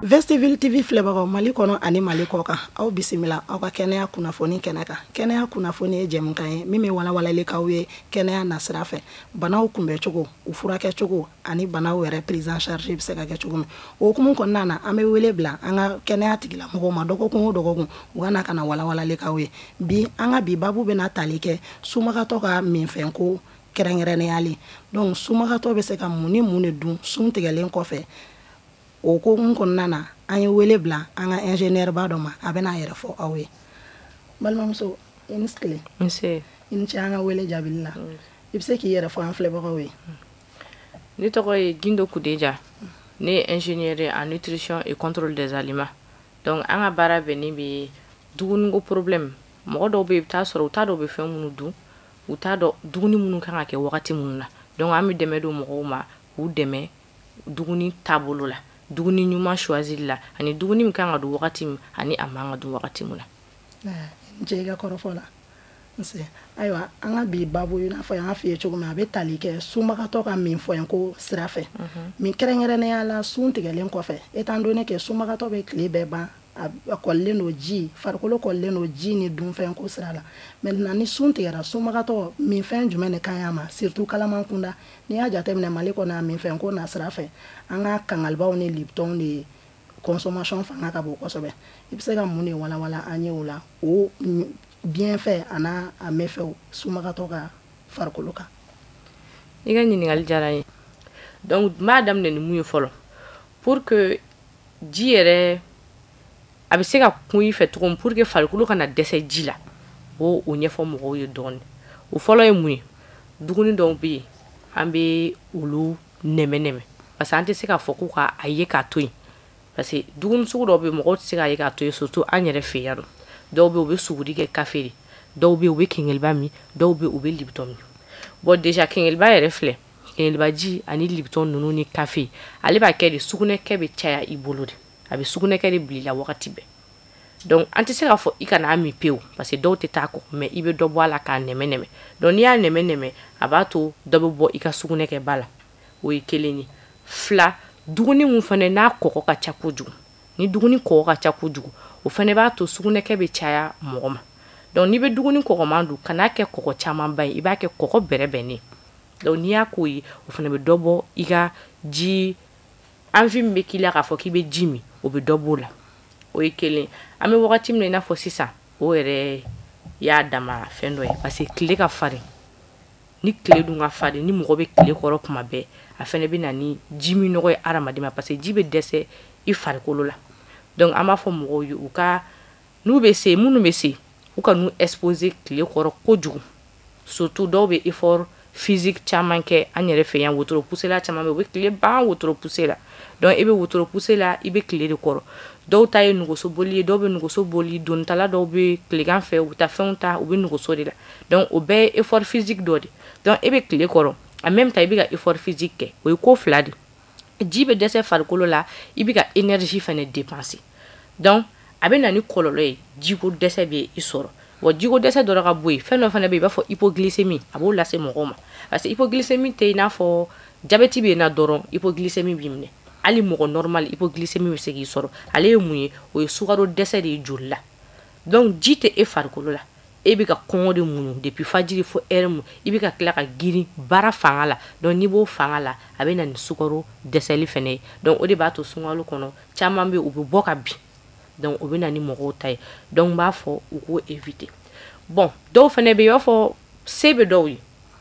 vestiville tv filɛbagaw mali kɔnɔ ani mali kɔkan aw bisimila aw ka kɛnɛya kunnafoni kɛnɛ kan kɛnɛya kunnafoni ye jɛmukan ye min bɛ walawalali k'aw ye kɛnɛya nasira fɛ banaw kunbɛncogo u furakɛcogo ani banaw yɛrɛ prise en charge bɛ se ka kɛ cogo min o hukumu kɔnɔna na an bɛ wele bila an ka kɛnɛya tigilamɔgɔw ma dɔgɔkun o dɔgɔkun u ka na ka na walawalali k'aw ye bi an ka bi babu bɛna tali kɛ sunbagatɔ ka minfɛnko kɛrɛnkɛrɛnnenya la donc sunbagatɔ bɛ se ka mun ni mun de dun sun tigɛlen kɔfɛ o hukumu kɔnɔna na an ye wele bila an ka ingénieur ba dɔ ma a bɛna a yɛrɛ fɔ aw ye balimamuso i ni tile i ni ce an ka wele jaabili la i bɛ se k'i yɛrɛ fɔ an filɛbagaw ye ne tɔgɔ ye gindo kudeja ne ye ingénieur ye en nutrition et contrôle des aliments donc an ka baara bɛnnen bɛ dumuniko problème mɔgɔ dɔw bɛ yen i bɛ t'a sɔrɔ u t'a dɔn u bɛ fɛn minnu dun u t'a dɔn dumuni minnu kan ka kɛ wagati minnu na donc an bɛ dɛmɛ don mɔgɔw ma k'u dɛmɛ dumuni taabolo la dumuni ɲuman choisili la ani dumuni min kan ka dun wagati min ani a man ka dun wagati min na. I ni ce i ka kɔrɔfɔ la. nse ayiwa an ka bi babu i n'a fɔ n y'a f'i ye cogo min a bɛ tali kɛ sunbagatɔ ka minfɛnko sira fɛ kɛrɛnkɛrɛnnenya la sun tigɛlen kɔfɛ étant donné que sunbagatɔ bɛ tile bɛɛ ban a kɔlilen don ji farikolo kɔlilen don ji ni dunfɛnko sira la maintenant ni sun tigɛra sunbagatɔ minfɛn jumɛn de ka ɲi a ma surtout kalaman kunda n'i y'a jateminɛ mali kɔnɔ a minfɛnko nasira fɛ an ka kɛnkɛlibaw ni libitɔnw de ye consommation fanga ka bon kosɛbɛ i bɛ se ka mun de walawala an ye o la o bienfait an'a méfaits sunbagatɔ ka farikolo kan i ka ɲininkali diyara n ye donc n b'a daminɛ ni mun ye fɔlɔ pour que ji yɛrɛ a bɛ se ka kun i fɛ cogo min pour que farikolo kana dɛsɛ ji la n b'o ɲɛfɔ mɔgɔw ye dɔɔni o fɔlɔ ye mun ye dumuni dɔw bɛ yen an bɛ olu nɛmɛ nɛmɛ parce que an tɛ se k'a fɔ ko k'a ye k'a to yen parce que dumuni sugu dɔw bɛ yen mɔgɔw tɛ se k'a ye k'a to yen surtout an yɛrɛ fɛ yan nɔ dɔw bɛ yen u bɛ suguri kɛ kafe de dɔw bɛ yen u bɛ kɛnkɛliba min dɔw bɛ yen u bɛ libitɔn min bon déjà kɛnkɛliba yɛrɛ filɛ kɛnkɛlibaji ani libitɔn ninnu ni kafe ale b'a kɛ de sugunɛkɛ bɛ caya i bolo de a bɛ sugunɛkɛ de bila i la wagati bɛɛ donc an tɛ se k'a fɔ i kana a min pewu parce que dɔw tɛ taa a kɔ mais i bɛ dɔ bɔ a la k'a nɛmɛ nɛmɛ donc n'i y'a nɛmɛ nɛmɛ a b'a to dɔ bɛ bɔ i ka sugunɛkɛba la o ye kelen ye fila dumuni min fana n'a kɔgɔ ka ca kojugu ni dumuni kɔgɔ ka ca kojugu o fana b'a to sugunɛkɛ bɛ caya mɔgɔ ma donc n'i bɛ dumuni kɔgɔman dun kan'a kɛ kɔgɔ camanba ye i b'a kɛ kɔgɔ bɛrɛbɛnnen donc n'i y'a k'o ye o fana bɛ dɔ bɔ i ka ji envie min bɛ k'i la k'a fɔ k'i bɛ ji min o bɛ dɔ b'o la o ye kelen an bɛ wagati min na i n'a fɔ sisan o yɛrɛ y'a dama fɛn dɔ ye parce que tile ka farin ni tile dun ka farin ni mɔgɔ bɛ tile kɔrɔ kuma bɛɛ a fana bɛ na ni ji minnɔgɔ ye hadamaden ma parce que ji bɛ dɛsɛ i farikolo la donc an b'a fɔ mɔgɔw ye u ka N'u bɛ se minnu bɛ se u kan'u exposer tile kɔrɔ kojugu surtout dɔw bɛ effort physique caman kɛ an yɛrɛ fɛ yan wotoro pusela caman u bɛ tile ban wotoro puse la donc i bɛ wotoro puse la i bɛ tile de kɔrɔ dɔw ta ye nɛgɛso boli ye dɔw bɛ nɛgɛso boli donitala dɔw bɛ tilegan fɛ u bɛ taa fɛnw ta u bɛ nɛgɛso de la donc o bɛɛ ye effort physique dɔ de donc e bɛ tile kɔrɔ en même temps i bɛ ka effort physique kɛ o ye ko fila de ji bɛ dɛsɛ farikolo la i bɛ ka énergie fana dépenser donc a bɛ na ni kɔlɔlɔ ye jiko dɛsɛ bɛ i sɔrɔ bon jiko dɛsɛ dɔrɔn ka bɔ yen fɛn dɔ fana bɛ yen i b'a fɔ hypoglycémie a b'o lase mɔgɔw ma parce que hypoglycémie tɛ i n'a fɔ jabɛti bɛ yen na dɔrɔn hypoglycémie b'i minɛ hali mɔgɔ normal hypoglycémie bɛ se k'i sɔrɔ ale ye mun ye o ye sukaro dɛsɛ de ye joli la donc ji tɛ e farikolo la e bɛ ka kɔngɔ de muɲu depuis fajiri fo heure mun i bɛ ka tila ka girin baara fanga la donc n'i b'o fanga la a bɛ na ni sukaro dɛsɛli fana ye donc o de b'a to sunkalo kɔnɔ caman bɛ u bɛ bɔ ka bin donc o bɛ na ni mɔgɔw ta ye donc n b'a fɔ u k'o éviter bon dɔw fana bɛ yen i b'a fɔ se bɛ dɔw ye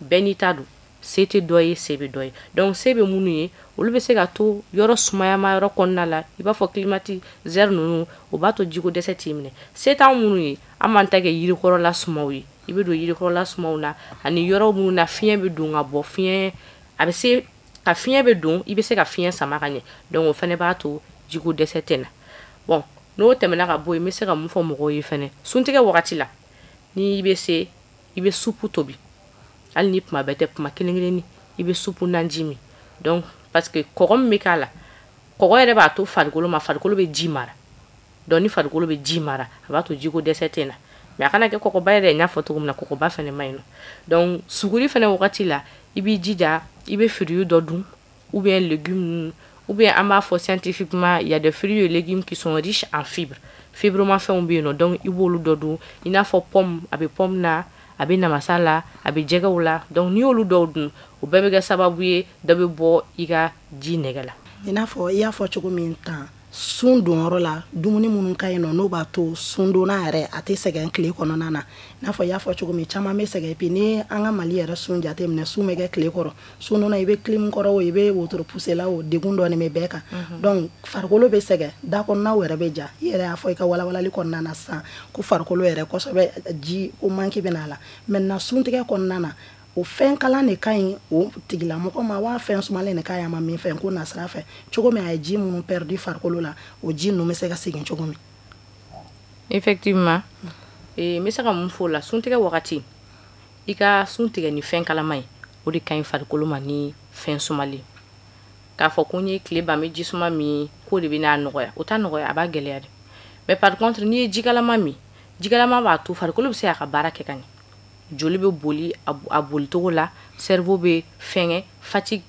bɛɛ n'i ta don se tɛ dɔ ye se bɛ dɔ ye donc se bɛ minnu ye olu bɛ se ka to yɔrɔ sumayama yɔrɔ kɔnɔna la i b'a fɔ climatiseur ninnu o b'a to jiko dɛsɛ t'i minɛ se t'an minnu ye an b'an ta kɛ yirikɔrɔla sumaw ye i bɛ don yirikɔrɔla sumaw na ani yɔrɔ minnu na fiɲɛ bɛ don ka bɔ fiɲɛ a bɛ se ka fiɲɛ bɛ don i bɛ se ka fiɲɛ sama ka ɲɛ donc o fana b'a to jiko dɛsɛ tɛ na bon n'o tɛmɛna ka bɔ yen n bɛ se ka mun fɔ mɔgɔw ye fana suntigɛ wagati la n'i bɛ se i bɛ supu tobi hali ni kuma bɛɛ tɛ kuma kelen kelenni i bɛ supu naji min donc parce que kɔgɔ min bɛ k'a la kɔgɔ yɛrɛ b'a to farikolo ma farikolo bɛ ji mara donc ni farikolo bɛ ji mara a b'a to jiko dɛsɛ tɛ na mais a kana kɛ kɔgɔba yɛrɛ n y'a fɔ cogo min na kɔgɔba fana man ɲi nɔ donc suguri fana wagati la i b'i jija i bɛ fruit dɔ dun ou bien légumes ou bien an b'a fɔ scientifiquement il y a des fruits et légumes qui sont riches en fibres fibrema fɛnw bɛ yen nɔ donc i b'olu dɔ dun i n'a fɔ pomme a bɛ pomme na a bɛ namasa la a bɛ jɛgɛw la donc n'i y'olu dɔw dun o bɛɛ bɛ kɛ sababu ye dɔ bɛ bɔ i ka ji nege la i n'a fɔ i y'a fɔ cogo min tan sun donyɔrɔ la dumuni minnu ka ɲi nɔ n'o b'a to sundonna yɛrɛ a tɛ sɛgɛn tile kɔnɔna na i n'a fɔ i y'a fɔ cogo min caman bɛ sɛgɛn bi ni an ka mali yɛrɛ sun jate minɛ sun bɛ kɛ tile kɔrɔ sundonna i bɛ kilimu kɔrɔ o i bɛ wotoro puse la o degun dɔɔni bɛ bɛɛ kan mhm. donc farikolo bɛ sɛgɛn da kɔnɔnaw yɛrɛ bɛ ja i yɛrɛ y'a fɔ i ka walawalali kɔnɔna na sisan ko farikolo yɛrɛ kosɛbɛ jiko manque bɛ n'a la maintenant sun tigɛ kɔnɔna na o fɛn kalan de ka ɲi o tigilamɔgɔ ma waa fɛn sumalen de ka ɲi a ma minfɛnko nasira fɛ cogo min a ye ji minnu pɛridi farikolo la o ji ninnu bɛ se ka segin cogo min effectivement eh, n bɛ se ka mun fɔ la suntigɛ wagati i ka sun tigɛ ni fɛn kalama ye o de ka ɲi farikolo ma ni fɛn sumalen k'a fɔ ko n ye tile ban n bɛ ji suma min k'o de bɛn'a nɔgɔya o t'a nɔgɔya a b'a gɛlɛya de mais par contre n'i ye jikalama min jikalama b'a to farikolo bɛ se k'a ka baara kɛ ka ɲɛ joli bɛ boli a bolicogo la cerveau bɛ fɛnkɛ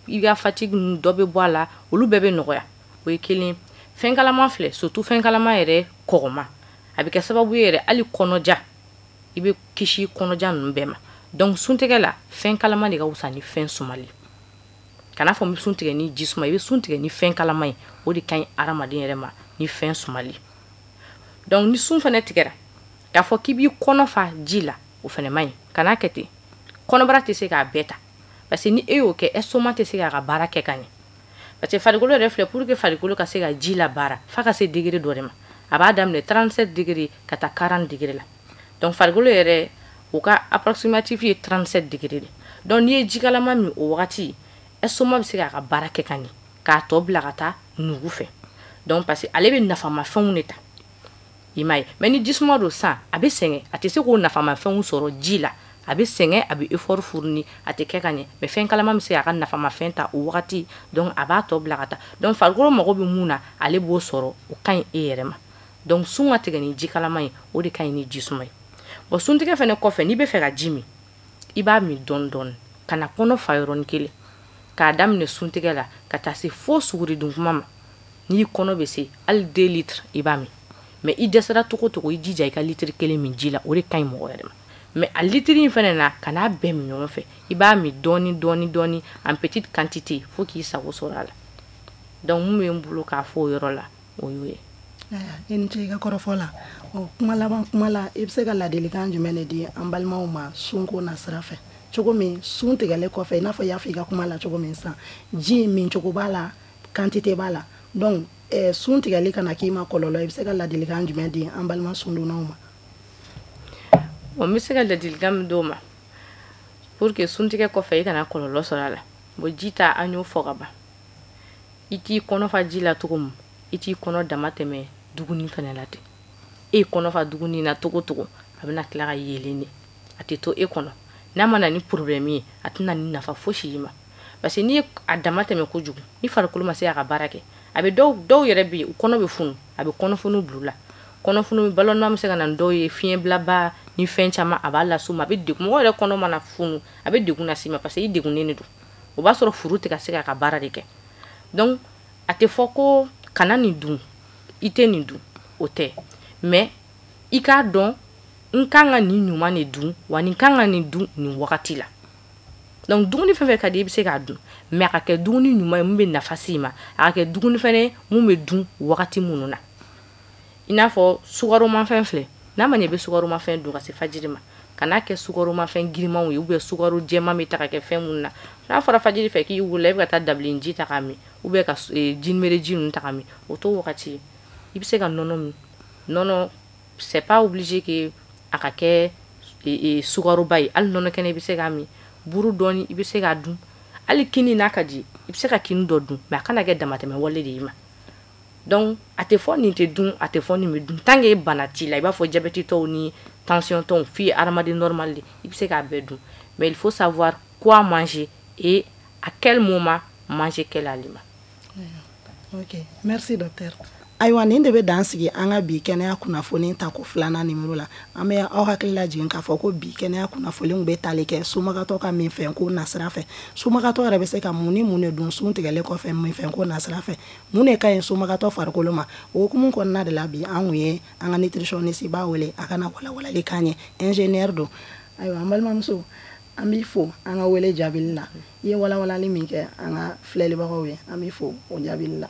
i ka fatigue dɔ bɛ bɔ a la olu bɛɛ bɛ nɔgɔya o ye kelen fɛn kalama filɛ surtout fɛn kalama yɛrɛ comme a bɛ kɛ sababu ye yɛrɛ hali kɔnɔja i bɛ kisi kɔnɔja ninnu bɛɛ ma donc sun tigɛ la fɛn kalama de ka fisa ni fɛn sumalen kan'a fɔ n bɛ sun tigɛ ni ji suma i bɛ sun tigɛ ni fɛn kalama ye o de ka ɲi hadamaden yɛrɛ ma ni fɛn sumalen donc ni sun fana tigɛ k'a fɔ k'i b'i kɔnɔ fa ji la o fana man ɲi kan'a kɛ ten kɔnɔbara tɛ se k'a bɛɛ ta parce que ni e y'o kɛ estomac tɛ se k'a ka baara kɛ ka ɲɛ parce que farikolo yɛrɛ filɛ pour que farikolo ka se ka ji labaara f'a ka se degere dɔ de ma a b'a daminɛ 37 degere ka taa 40 degere la donc farikolo yɛrɛ o ka approximatif ye 37 degere de donc n'i ye jikalama min o wagati estomac bɛ se k'a ka baara kɛ ka ɲɛ k'a tɔ bila ka taa nugu fɛ donc parce que ale bɛ nafamafɛnw de ta i m'a ye mais ni jisuma don san a bɛ sɛgɛn a tɛ se k'o nafamafɛnw sɔrɔ ji la a bɛ sɛgɛn a bɛ effort fournir a tɛ kɛ ka ɲɛ mais fɛn kalama bɛ se k'a ka nafamafɛn ta o wagati donc a b'a tɔ bila ka taa donc farikolo mago bɛ min na ale b'o sɔrɔ o ka ɲi e yɛrɛ ma donc sun ka tigɛ ni ji kalama ye o de ka ɲi ni jisuma ye bon suntigɛ fana kɔfɛ n'i bɛ fɛ ka ji min i b'a min dɔɔni dɔɔni kana kɔnɔ fa yɔrɔnin kelen k'a daminɛ suntigɛ la ka taa se fo suguri dun kuma ma n'i kɔnɔ bɛ se hali deux litres i b'a min mais i dɛsɛra cogo cogo i jija i ka litiri kelen min ji la o de ka ɲi mɔgɔ yɛrɛ ma mais a litiri in fana na kan'a bɛɛ min ɲɔgɔn fɛ i b'a min dɔɔni dɔɔni dɔɔni en petite quantité fo k'i sago sɔrɔ a la donc min bɛ n bolo k'a fɔ o yɔrɔ la o y'o ye i ni ce i ka kɔrɔfɔ la ɔ kuma laban kuma la i bɛ se ka ladilikan jumɛn de di an balimaw ma sunko nasira fɛ cogo min sun tigɛlen kɔfɛ i n'a fɔ i y'a fɔ i ka kuma la cogo min san ji mincogo b'a la quantité b'a la donc eh, sun tigɛli kana k'i ma kɔlɔlɔ i bɛ se ka ladilikan jumɛn di an balima sundonnaw ma n bɛ se ka ladilikan min d'u ma pour que suntigɛ kɔfɛ i kana kɔlɔlɔ sɔrɔ a la bon ji ta an y'o fɔ ka ban i t'i kɔnɔ fa ji la cogo min i t'i kɔnɔ damatɛmɛ dumuni fana la ten e kɔnɔ fa dumuni na cogo cogo a bɛna tila ka yeelen de a tɛ to e kɔnɔ n'a ma na ni problème ye a tɛ na ni nafa fosi y'i ma parce que n'i ye a damatɛmɛ kojugu ni farikolo ma se k'a ka baara kɛ a bɛ dɔw dɔw yɛrɛ bɛ yen u kɔnɔ bɛ funu a bɛ kɔnɔfunu bila u la kɔnɔfunu ballonnement bɛ se ka na ni dɔw ye fiɲɛbilaba ni fɛn caman a b'a las'u ma a bɛ degun mɔgɔ yɛrɛ kɔnɔ mana funu a bɛ degun las'i ma parce que i degunnen de don o b'a sɔrɔ furu tɛ ka se k'a ka baara de kɛ donc a tɛ fɔ ko kana nin dun i tɛ nin dun o tɛ mais i k'a dɔn n kan ka nin ɲuman de dun wa n kan ka nin dun nin wagati la donc dumuni fɛn fɛn ka di i bɛ se k'a dun mais a ka kɛ dumuni ɲuman ye mun bɛ nafa s'i ma a ka kɛ dumuni fɛnɛ ye mun bɛ dun wagati minnu na i n'a fɔ sukaromafɛn filɛ n'a ma ɲɛ i bɛ sukaromafɛn dun ka se fajiri ma kana kɛ sukaromafɛn girinmanw ye ou bien sukaro jɛman bɛ ta ka kɛ fɛn minnu na n'a fɔra fajiri fɛ k'i wulila i bɛ ka taa dabileni ji ta k'a min ou bien ka eh, jinjinbere ji ninnu ta ka min o t'o wagati ye i bɛ se ka nɔnɔ min nɔnɔ c'est pas obligé que a ka kɛ sukaroba ye hali nɔnɔ kɛnɛ i bɛ se k'a min buru dɔɔni i bɛ se k'a dun hali kini n'a ka di i bɛ se ka kini dɔ dun mais a kana kɛ damatɛmɛ wale de y'i ma donc a tɛ fɔ nin tɛ dun a tɛ fɔ nin bɛ dun tant que bana t'i la i b'a fɔ jabɛtitɔw ni tensiontɔw f'i ye hadamaden normal de i bɛ se k'a bɛɛ dun mais il faut savoir quoi manger et à quel moment manger quel aliment ok merci docteur ayiwa nin de bɛ dan sigi an ka bi kɛnɛya kunnafoni tako filanan nimero la an bɛ aw hakili lajigin k'a fɔ ko bi kɛnɛya kunnafoniw bɛ tali kɛ sunbagatɔ ka minfɛn ko nasira fɛ sunbagatɔ yɛrɛ bɛ se ka mun ni mun de dun sun tigɛlen kɔfɛ minfɛn ko nasira fɛ mun de ka ɲi sunbagatɔ farikolo ma o hukumu kɔnɔna de la bi an kun ye an ka nutritionniste ba wele a ka na walawalali k'an ye ingénieur don ayiwa an balimamuso an b'i fo an ka wele jaabili la i ye walawalali min kɛ an ka filɛlibagaw ye an b'i fo o jaabili la